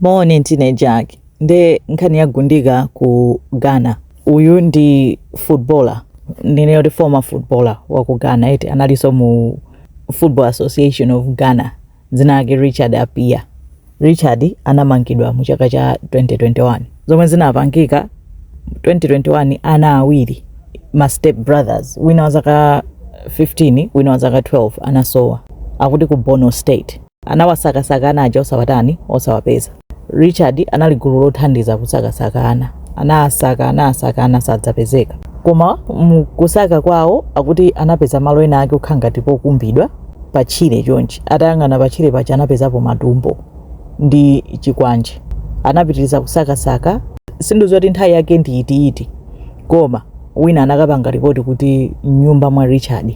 Moni ndine Jack nde nkhani ya Gundika ku Ghana. Uyu ndi footballer ndinene kuti former footballer wa ku Ghana eti analinso mu Football Association of Ghana dzina lake Richard Appiah. Richard anamangidwa mu chaka cha 2021 zomwe zinapangika 2021 ana awiri ma step brothers wina wa zaka 15 wina wa zaka 12 anasowa akuti ku Bono State. Anawasakasaka ana aja osawatani? Osawapeza. Richard anali gulu lothandiza kusakasaka ana. Anasaka, anasaka, ana sadzapezeka. Koma mu kusaka kwawo akuti anapeza malo ena ake okhala ngati pokumbidwa pa tchire chonchi. Atayang'ana pa tchire paja anapezapo matumbo ndi chikwanje. Anapitiriza kusakasaka. Sindidziwa kuti nthawi yake ndi itiiti, koma wina anakapanga lipoti kuti m'nyumba mwa Richard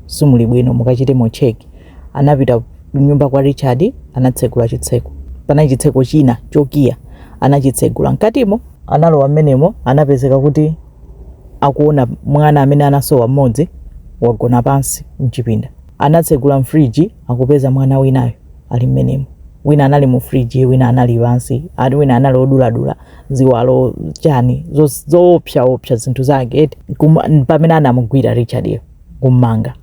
simuli bwino, mukachitemo cheki. anapita kunyumba kwa Richard anatsegula chitseko panali chitseko china chokiya anachitsegula mkatimo analowa mmenemo anapezeka kuti akuona mwana amene anasowa mmodzi wagona pansi mchipinda anatsegula mfriji akupeza mwana winayo ali mmenemo wina anali mu friji wina anali pansi ati wina anali oduladula ziwalo chani zo- zoopsaopsa zinthu zake eti Kuma- pamene anamugwira richard-yo kummanga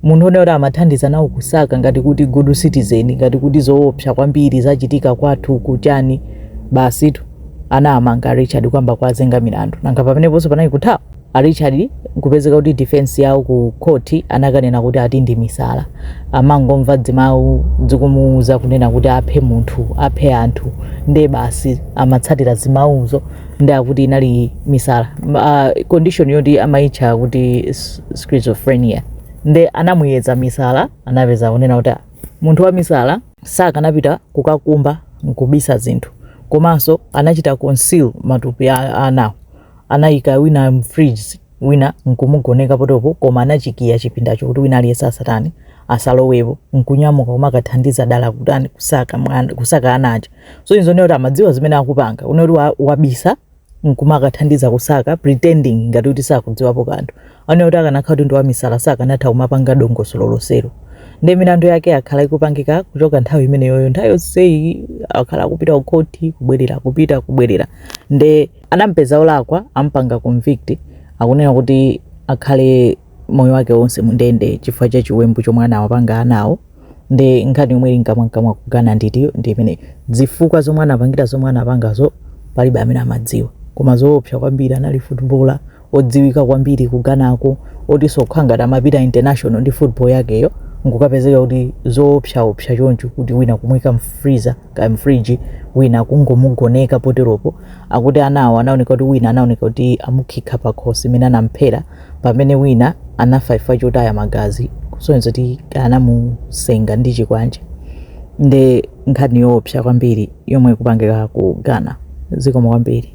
Munthu onena kuti amathandiza nawo kusaka ngati kuti good citizen ngati kuti zoopsa kwambiri zachitika kwathu ku chani basitu anamanga Richard kuyamba kuwazenga milandu nanga pameneponso panali kuthawa a Richard kupezeka kuti defense yawo ku court anakanena kuti ati ndi misala amangomva dzimawu dzikumuuza kunena kuti aphe munthu aphe anthu nde basi amatsatira zimawuzo ndi akuti inali misala M- ah, condition yoti amaitcha kuti s- schizophrenia nde anamuyeza misala anapeza kunena kuti "Ah, munthu wa misala sakanapita kukakumba nkubisa zinthu komanso anachita conceal matupi a- anawo anayika wina mfridge wina n'kumugoneka potopo koma anachikiya chipindacho kuti wina aliyense asatani asalowepo n'kunyamuka kumakathandiza dala kutani kusaka mwana kusaka ana aja so izo kunena kuti amadziwa zimene akupanga kunena kuti wa- wabisa nkumakathandiza kusaka pretending ngati kuti sakudziwapo kanthu anaona kuti akanakhala kuti ndi wamisala sakanatha kumapanga dongosolo lonselo nde milandu yake akhala ikupangika kuchoka nthawi imeneyoyo nthawi yonseyi akhala akupita kukhoti kubwerera kupita kubwerera nde Adampeza olakwa ampanga convict akunena kuti akhale moyo wake wonse mundende chifukwa cha chiwembu chomwe anawapanga anawo ndi nkhani yomwe ili mkamwamkamwa ku Ghana ndiyo ndi imene zifukwa zomwe anapangira zomwe anapangazo palibe amene amadziwa koma zoopsa kwambiri anali footballer odziwika kwambiri ku Ghanako otinso kukhala ngati amapita international ndi football yakeyo nkukapezeka kuti zoopsaopsa choncho kuti wina kumwika mfreezer kaya mfriji wina kungomugoneka poteropo akuti anawo anaoneka kuti wina anaoneka kuti amukhika pakhosi imene anamphera pamene wina anafa chifukwa chotaya magazi kusonyeza kuti anamusenga ndi chikwanje ndi nkhani yoopsa kwambiri yomwe ikupangika ku ghana zikomo kwambiri